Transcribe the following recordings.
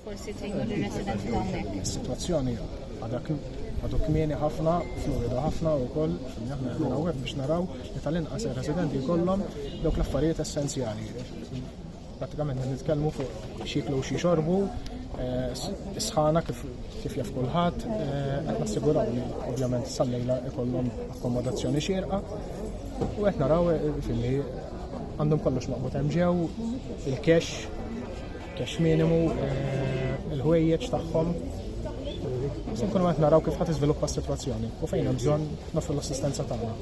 Forsi tgħinu li residenti ta' hekk. Is-sitwazzjoni għadha għadu kmieni ħafna, fluwidu ħafna u koll, aħna għedin għawek biex naraw li tal-inqas residenti kollom dawk l-affarijiet essenzjali. Pratikament nitkellmu fuq xiklu xie xorbu, eh, sħana kif kif jaf kulħadd eh, qed nassiguraw li ovvjament sal-lejla ikollhom akkomodazzjoni xierqa u qed naraw eh, filli għandhom kollox maqbud hemm ġew il-cash Cash minimu, eh, il-ħwejjeġ tagħhom. Se nkunu qed naraw kif ħadd iżviluppa s-sitwazzjoni u fejn hemm bżonn nofru l-assistenza tagħna.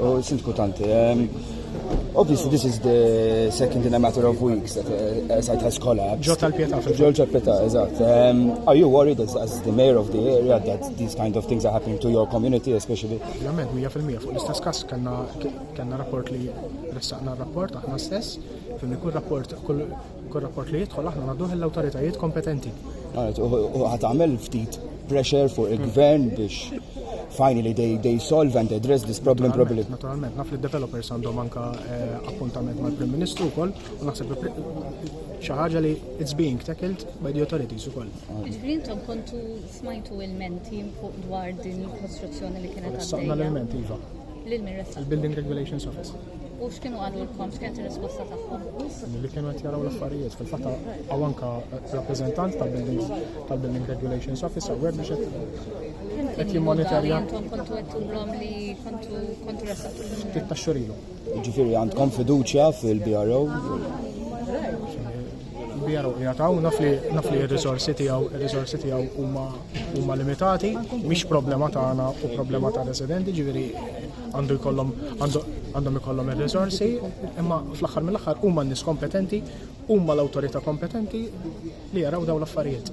U sindku tanti, ehm, Obviously, this is the second in a matter of weeks that uh, a site has collapsed. Ġo tal-pieta. Ġo tal-pieta, eżatt. Um, are you worried as, as the mayor of the area that these kind of things are happening to your community especially? Ovvjament, 100% fuq l-istess kas kanna rapport li ressaqna rapport aħna stess. Fimni kull rapport, kull rapport li jidħol aħna nagħduh l-awtoritajiet kompetenti. U ħat għamel ftit pressure fuq il-gvern biex finally they, they solve and address this problem properly. Naturalment, naf li developers għandhom anka eh, appuntament mal-Prim Ministru wkoll u naħseb xi ħaġa li it's being tackled by the authorities ukoll. Ġifieri intom kontu smajtu il-menti fuq dwar din il-kostruzzjoni li kienet għaddejja. L-menti iva. L-Building Regulations Office. U x'kienu għalulkom, x'kienet ir-risposta tagħhom? Li kienu qed jaraw l-affarijiet, fil-fatt hawn anke rappreżentant tal-Building tal-Building Regulations Office hawnhekk biex qed qed jimmonitorja. Intom kontu għedtulhom li kontu kontu ressaqtu. Ftit ta' xurilu. Ġifieri għandkom fiduċja fil-BRO? kbira u qiegħed hawn naf li naf li r-riżorsi tiegħu r-riżorsi tiegħu huma huma limitati, mhix problema tagħna u problema ta' residenti, ġifieri għandu jkollhom għandhom ikollhom ir-riżorsi, imma fl-aħħar mill-aħħar huma n-nies kompetenti, huma l-awtorità kompetenti li jaraw dawn l-affarijiet.